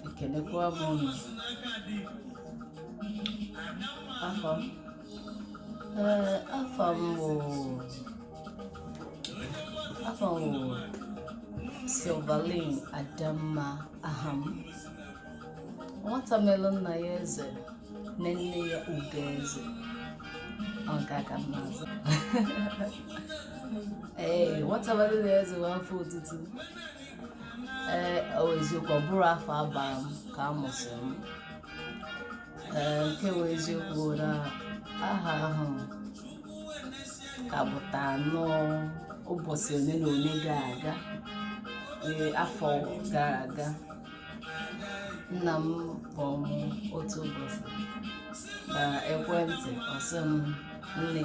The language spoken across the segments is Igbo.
ekelekwa m unu afa m ee afa m bụ afa m bụ silvalin adamma aha m nwata melụ nna ya eze na nne ya ugo eze ọ ga-aga m n'azụ ee nwata melụ nna ya eze bụ afa otutu ee ọ bụ eziokwu ọ bụrọ afa a bara m ka a mụsịrị m ee nke bụ eziokwu bụ na aha ahụ ka pụta nnọọ ụbọchị ole na ole gara aga ee afọ gara aga nna m kpọrọ m otu ụbọchị na ekwentị ọ sị m nne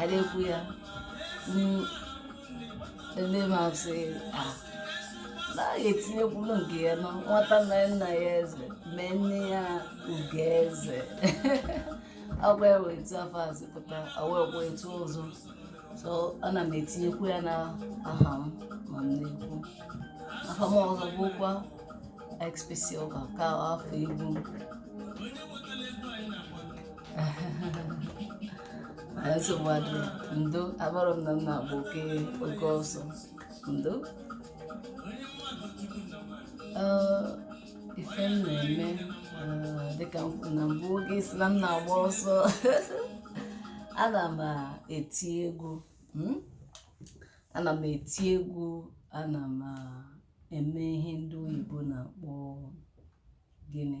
a na-ekwu ya mm, ndị ma sị ah, na a ga-etinyekwuru nke ya na nwata na nna ya eze mee nne ya ugo eze ọ bụ ya bụ etu afa a si pụta awee kwa etu ọzọ so ana m etinyekwu ya na aha m ma m na-ekwu aha m ọzọ bụkwa xpsilva ka afa egwu m Anyị nsogbu adịghị. Ndo, amarọ m na m na-agba oke oke ọsọ. Ndo. Ee, ife m na-eme ee, dịka m kwuru na mbụ oge ị sị na m na-agba ọsọ ana m eti egwu mm? ana m eti egwu ana m eme ihe ndị oyibo na-akpọ gịnị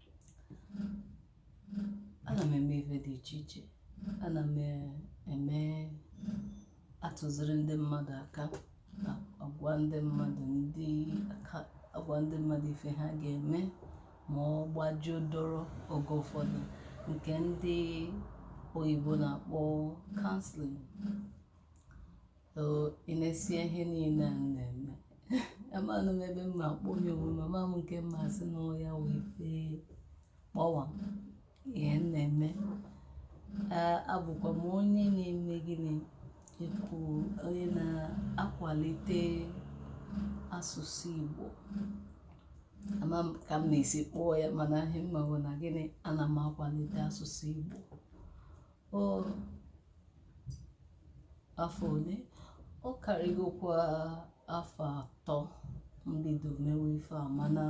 ana m eme ife dị iche iche ana m eme atụziri ndị mmadụ aka na-agwa ndị mmadụ dịka agwa ndị mmadụ ife ha ga-eme ma ọ gbajuo doro oge ụfọdụ nke ndị oyibo na-akpọ counseling ị nesịa ihe niile a m na-eme amarọ m ebe m ma-akpọnye onwe m amarọ m nke m ma-asị na ọ ya bụ ife kpọmkwem m na-eme abụkwa m onye na-eme gịnị ịkụ onye na-akwalite asụsụ Igbo ama m ka m ga-esi kpọọ ya mana ihe m ma bụ na gịnị ana m akwalite asụsụ Igbo ọ afọ ole ọ karịgokwa afọ atọ m bido mewe ife a mana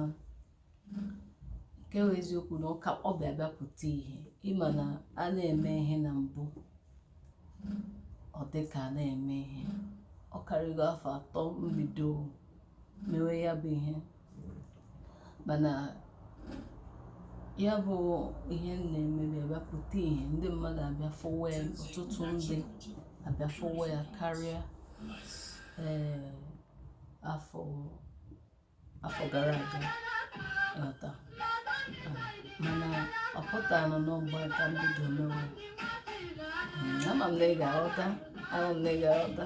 nke bụ eziokwu na ọ ka ọ bịa bịa pụta ihe ị ma na a na-eme ihe na mbụ ọ dị ka a na-eme ihe ọ karịgo afọ atọ m bido mewe ya bụ ihe mana ya bụ ihe m na-eme abịa pụta ihe ndị mmadụ abịa fụwa ya ọtụtụ ndị abịa fụwa ya karịa ee afọ afọ gara aga ị ghọta mana ọ pụtara na n'ọgba ka m bido mewe ama m na ị ga-aghọta ama m na ị ga-aghọta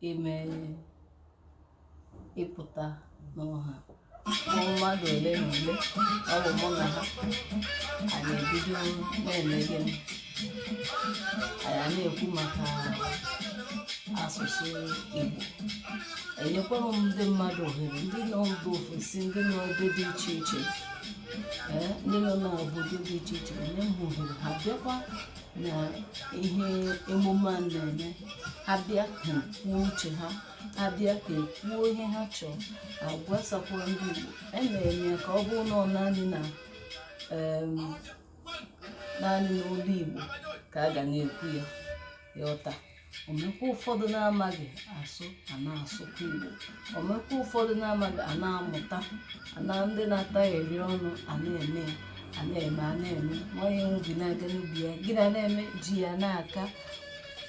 ime ịpụta n'ọha mmadụ ole na ole ọ bụ mụ na ha anyị ebido na-eme gịnị anyị na-ekwu maka asụsụ Igbo enyekwara m ndị mmadụ ohere ndị nọ mba ofesi ndị nọ ebe dị iche iche ee ndị nọ n'obodo dị iche iche enye m ohere ha bịakwa na ihe emume a na-eme abịa kwuo uche ha abịa kwuo ihe ha chọrọ agwasakwa ndị Igbo emere m ya ka ọ bụrụ na ọ naanị na em, naanị n'olu Igbo ka a ga na-ekwu ya ị ghọta omekwa ụfọdụ na-amaghị asụ a na-asụkwa igbo omekwa ụfọdụ na-amaghị a na-amụta a na ndị na-ata ire enu a na-eme ya a na-eme a na-eme nwaanyị enwu bi na-aga n'ubi ya gị na na-eme ji ya na-aka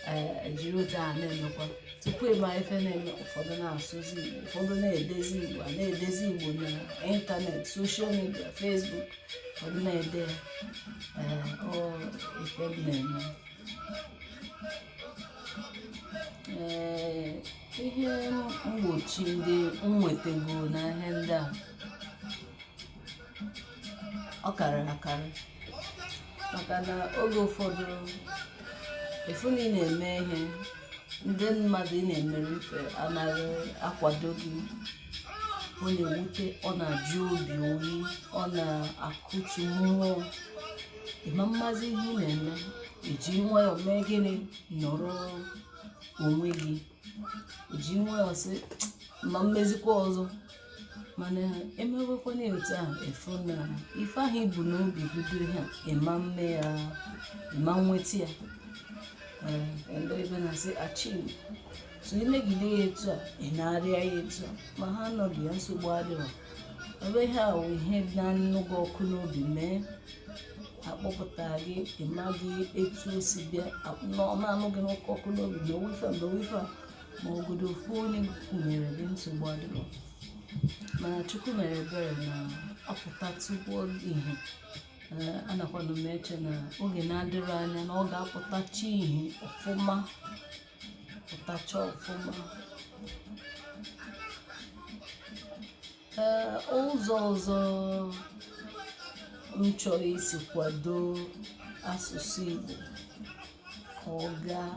ee jiri otu a na-emekwa tupu ị ma ife na-eme ụfọdụ na-asụzi igbo ụfọdụ na-edezi igbo a na-edezi igbo na ịntanetị soshal midia fesbuk ụfọdụ na-ede ya ee ọ ife m na-eme ee ihe mgbochi ndị m nwetago na ihe ndị a ọ karịrị akarị maka na oge ụfọdụ ị fụ na ị na-eme ihe ndị mmadụ ị na-emere ife anaghị akwado gị ọ na-ewute ọ na-ajụ obi oyi ọ na-akụtu mmụọ ị ma-amazi ihe ị na-eme i ji nwayọọ mee gịnị nọrọ onwe gị i ji nwayọọ sị m ma-emezikwa ọzọ mana i mewekwanụ ya otu ahụ ị fụ na ife ahụ i bu n'obi bido ihe a ị ma-eme ya ị ma-enweta ya ee bekee na-asị achieve so i megide ya etu a ị na-arịa ya etu a ma ha anọghị ya nsogbu adịghị ọ bụ ihe a wụ ihe na-anụ gị ọkụ n'obi mee a kpọpụta gị ị maghị etu o si bịa na-anụ gị n'ọkụ ọkụ n'obi ma wifa mgbe wifa ma ọ bụgodu ofu onye kwụnyere gị nsogbu adịghị mana chukwu mere ebere na ọ pụtatụ ihe anakwanụ m eche na oge na-adịghị anya na ọ ga-apụtacha ihe ọfụma pụtacha ọfụma ee ụzọ ọzọ m chọrọ isi kwado asụsụ Igbo ka ọ gaa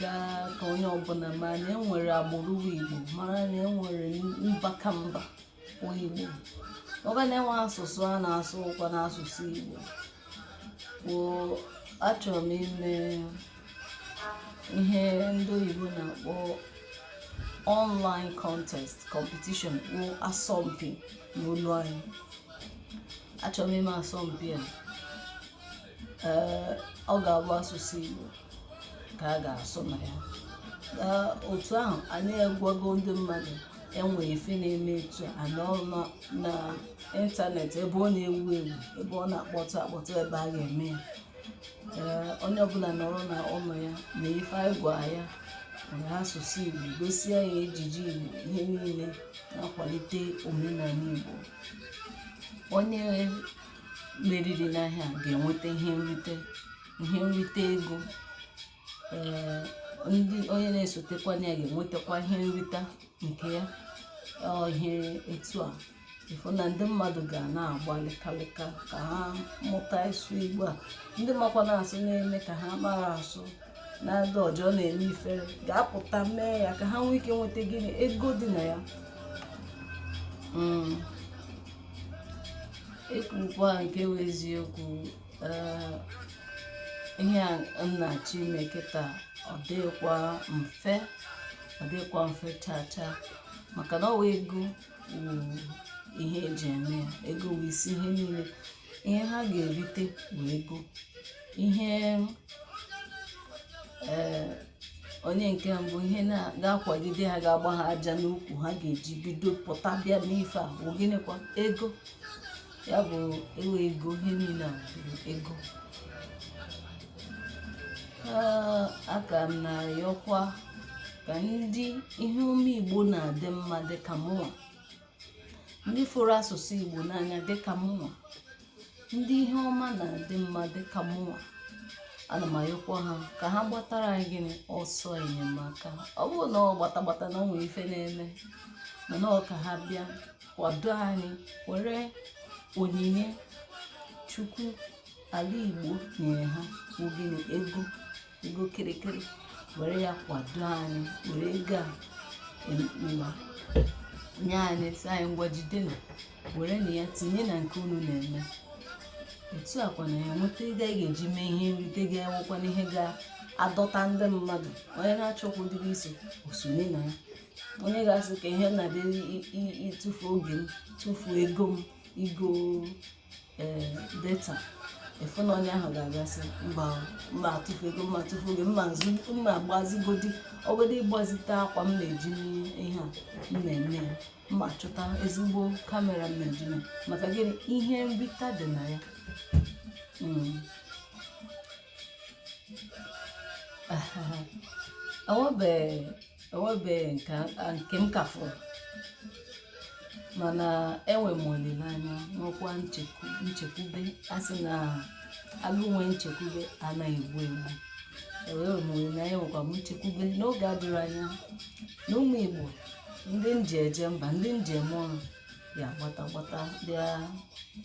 gaa ka onye ọbụla ma na enwere agbụrụ Igbo mara na enwere mba ka mba Igbo ma na enwere asụsụ a na-asụ wụkwanụ asụsụ Igbo bụ achọrọ m ime ihe ndị oyibo na-akpọ online contest competition bụ asọmpi n'olu anyị achọrọ m ime asọmpi a ee ọ ga-abụ asụsụ Igbo ka a ga-asụ na ya Ee, otu ahụ anyị agwago ndị mmadụ enwe ife na-eme etu a a nọrọ na ịntanetị ebe ọ na-ewu ewu ebe ọ na-akpọtụ akpọtụ ebe a ga-eme ya Ee, onye ọbụla nọrọ na ụlọ ya na ife anyị gwa ya were asụsụ Igbo gosi anyị ejiji Igbo ihe niile na-akwalite omenala Igbo onye meriri n'ihe a ga-enweta ihe nrite ihe nrite ego ee ndị onye na-esotekwa ya ga-enwetakwa ihe nrita nke ya ihe etu a ị fụ na ndị mmadụ ga na-agba lịkalịka ka ha mụta ịsụ igbo a ndị makwanụ asụ na-eme ka ha amarọ asụ na-ada ụjọ na-eme ifere ga-apụta mee ya ka ha nwee ike nweta gịnị ego dị na ya mm. ekwukwa nke wụ eziokwu ee, ihe a m na-achọ ime kịta ọ dịghịkwa mfe ọ dịghịkwa mfe chaa chaa maka na ọ wụ ego wụ ihe eji eme ya ego wụ isi ihe niile ihe ha ga-erite wụ ego ihe ee onye nke mbụ ihe ga-akwagide ha ga-agba ha aja n'ụkwụ ha ga-eji bido pụta bịa n'ife a bụ gịnịkwa ego ya bụ ọ wụ ego ihe niile a bụ ego Ee, a ka m na-ayọkwa ka ndị ihe ọma igbo na-adị mma dị ka mụnwa ndị fụrụ asụsụ Igbo n'anya dịka mụnwa ndị ihe ọma na-adị mma dịka mụnwa ana m ayọkwa ha ka ha gbatara anyị gịnị ọsọ enyemaka ọ bụrọ na ọ gbata gbata na o nwere ife na-eme mana ọ ka ha bịa kwado anyị were onyinye chukwu ala igbo nyere ha bụ gịnị ego ego kịrịkịrị were ya kwado anyị were ego a manye anyị sị anyị ngwa jidenu werenụ ya tinye na nke unu na-eme otu a kwa anyị enweta ego anyị ga-eji mee ihe nrite ga-enwekwanụ ihe ga-adọta ndị mmadụ onye na-achọkwa ụdịrị iso o sonye na ya onye ga-asị ka ihe na-adị ịtụfu oge m tụfuo ego m igo ee data ị fụ na onye ahụ ga-abịa sị mba m ma-atụfu ego m ma-atụfu oge m ma-azụ m ma-agbazigodi ọ bụgodi ịgbazite akwa m na-eji ihe a m na-eme ya m ma-achọta ezigbo kamera m ma-eji ya maka gịnị ihe nrita dị na ya Mm. o nwebeghị nke m ka fụrụ mana enwe m olileanya nwekwa nchekwube a sị na agụụ nwe nchekwube anaghị egbu egbu enwere m olileanya enwekwa m nchekwube n'oge adịghị anya na ụmụ Igbo ndị nji eje mba ndị njem ọrụ ya-agbata gbata bịa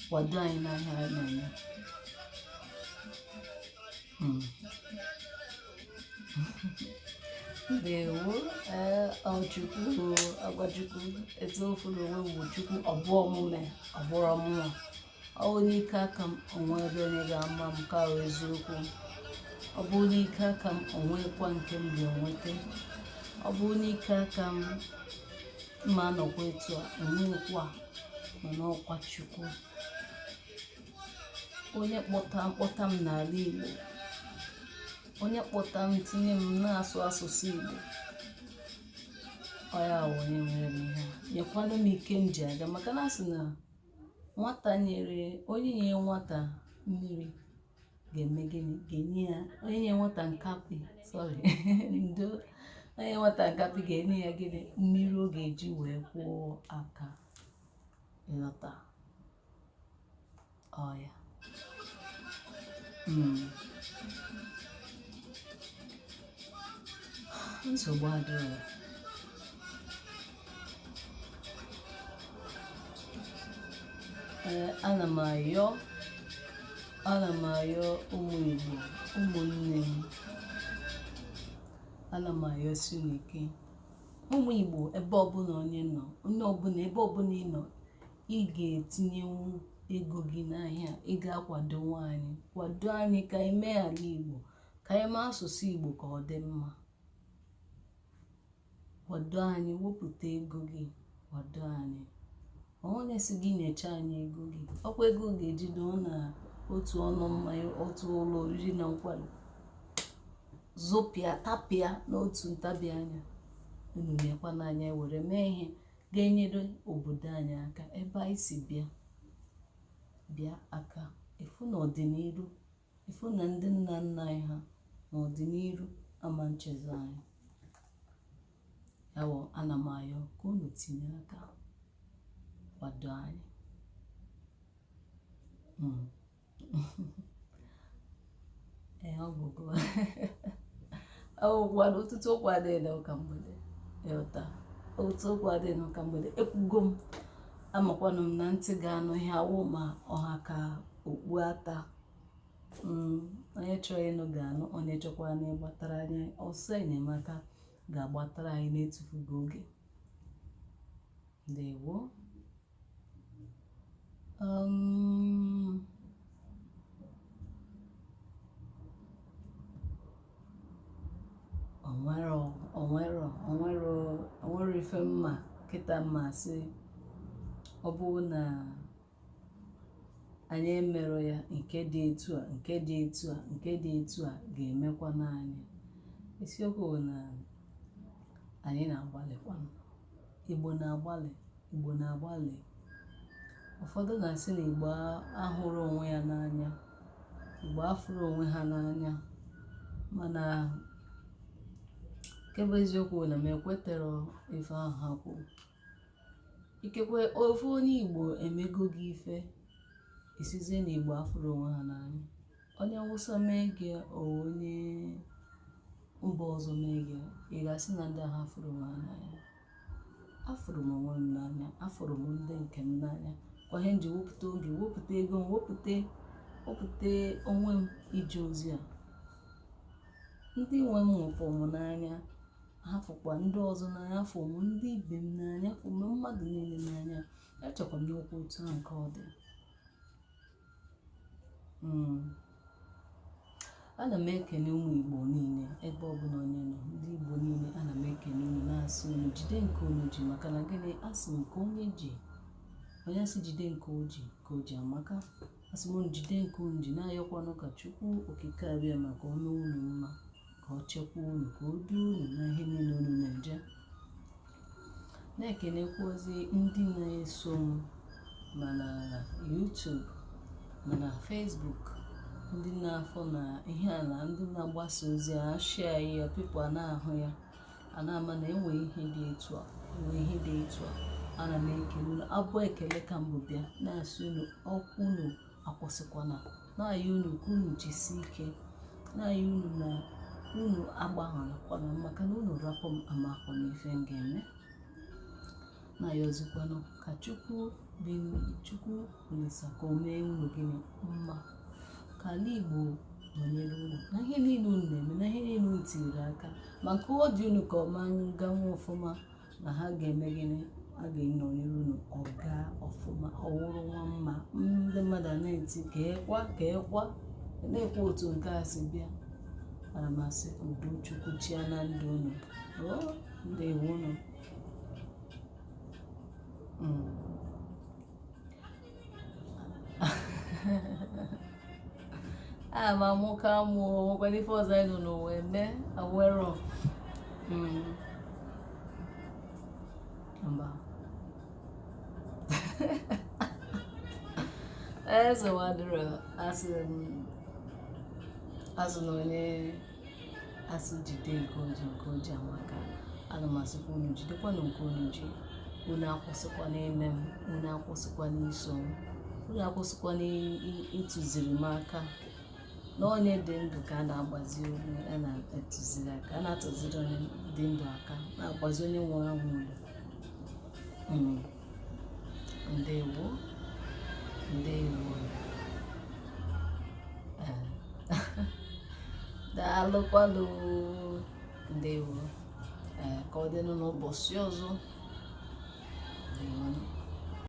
kwado anyị n'ihe a anyị na-eme Hmm. ndewo ee ọ chukwu ọ bụ aka chukwu eziokwu onwe bụ chukwu ọ bụ omume ọ bụrụ mụwa ọ wụ n'ike aka m o nwebe onye ga-ama m ka ọ eziokwu ọ bụ n'ike aka m o nwekwa nke m ga-enweta ọ bụ n'ike aka m m ma-anọkwa etu a onwekwa mana ọ aka chukwu onye kpọta m kpọta m n'ala Igbo onye kpọta m tinye m na-asụ asụsụ Igbo ọ ya wụ onye mere m ihe a. nyekwanụ m ike m ji aga maka na a sị na nwata nyere onye nye nwata mmiri ga-eme gịnị ga-enye ya onye nye nwata nkapị sorry ndo onye nwata nkapị ga-enye ya gịnị mmiri ọ ga-eji wee kwụọ aka ị ghọta Ọ ya. Hmm. nsogbu adịghị ee ana m ayọ ana m ayọ ụmụ igbo ụmụnne m ana m ayọsi unu ike ụmụ igbo ebe ọbụla onye nọ onye ọbụla ebe ọbụla ị nọ ị ga-etinyenwu ego gị n'ahịa ị ga-akwadonwu anyị kwado anyị ka anyị mee ala igbo ka anyị mee asụsụ igbo ka ọ dị mma kwado anyị wepụta ego gị kwado anyị onye sị gị nyecha anyị ego gị ọ kwa ego ị ga-ejide ọ na otu ụnọ mmanya otu ụlọ oriri na nkwari zụpịa tapịa n'otu ntabi anya unu na-ekwa n'anya were mee ihe ga-enyere obodo anyị aka ebe anyị si bịa ka a fụ na ọdịnihu fụ na ndị nna nna anyị ha na ọdịnihu ama echezọ anyị ya wụ ana m ayọ ka unu tinye aka kwado anyị mm. ogologo okwu na ọtụtụ okwu adịghị na ụka mgbede ị ghọta ọtụtụ okwu adịghị na ụka mgbede ekwugo m amakwanụ m na ntị ga-anụ ihe awụ ma ọ ha ka okpu ata mm, onye chọrọ ịnụ ga-anụ onye chọkwaranụ ịgbatara anyị ọsọ enyemaka ga-agbatara anyị na-etufughị oge ndewo Um, onwere onwere onwere onwere ife m ma kịta m ma sị ọ bụrụ na anyị emerọ ya nke dị etu a nke dị etu a nke dị etu a ga-emekwanụ anyị isiokwu bụ na anyị na-agbalịkwanụ Igbo na-agbalị, Igbo na-agbalị. Ụfọdụ na-asị na Igbo ahụrọ onwe ya n'anya, Igbo afụrọ onwe ha n'anya, mana nke bụ eziokwu na m ekweterọ ife ahụ ha kwuru. Ikekwe ofu onye Igbo emego gị ife, ị sịzie na Igbo afụrọ onwe ha n'anya. onye awụsa mee gị ọ onye mba ọzọ mee gị ị ga-asị na ndị ahụ afụrọ m n'anya afụrụ m onwe m n'anya afụrụ m ndị nke m n'anya kwa ihe m ji wepụta oge wepụta ego m wepụta wepụta onwe m ije ozi a ndị nwe m fụ m n'anya ha fụkwa ndị ọzọ n'anya afụ m ndị ibe m n'anya afụ m mmadụ niile n'anya echekwa m n'okwu otu a nke ọ dị hmm. ana m ekene ụmụ igbo niile ebe ọbụla onye nọ ndị igbo niile ana m ekene unu na-asị unu jide nke unu ji maka na gịnị a sị nke onye ji onye a sị jide nke o ji nke o ji amaka asị m unu jide nke unu ji na-ayọkwanụ ka chukwu okike abịama ka o mee unu mma ka ọ chekwa unu ka o duo unu na ihe niile unu na-eje na-ekenekwazi ndị na-eso m ma na YouTube ma na Facebook ndị na-afọ na ihe a na ndị na-agbasa ozi a share ya people a na-ahụ ya a na-ama na enwe ihe dị etu a enwe ihe dị etu a ana m ekele unu abụ ekele ka m bu bịa na-asị unu ọkwụ unu akwụsịkwana na-ayịọ unu ka unu jisi ike na-ayịọ unu na unu agbahapụkwana m maka na unu rapụ m amahụ m ife m ga-eme na-ayịọzikwanụ ka chukwu bụ chukwu olisa ka o mee unu gịnị mma ka ala igbo nọnyere unu na ihe niile unu na-eme na ihe niile unu tinyere aka ma nke ọ dị unu ka ọ ma agawa ọfụma na ha ga-eme gịnị a ga-enọ n'iru na ọ gaa ọfụma ọ wụrụ nwa mma ndị mmadụ a na-eti ka ekwa ka ekwa na-ekwu otu nke a si bịa ana m asị ka udo chukwu chịa na ndụ unu oo ndewo unu Mm. a ma mụ ka mụ nwekwa n'ife ọzọ anyị nọ n'ụwa eme enwerọ mba nsogbu adịrọ asị m a sị na onye a sị jide nke o ji nke o ji amaka ana m asịkwa unu jidekwanụ nke unu ji unu akwụsịkwana ime m unu akwụsịkwana iso m unu akwụsịkwana ịtụziri m aka na onye dị ndụ ka a na-agbazi onye a na-atụziri aka a na-atụziri onye dị ndụ aka na-agbazi onye nwụrụ anwụ olu Mm. ndewo ndewo daalụkwanụ ndewo ka ọ dịnụ n'ụbọsị ọzọ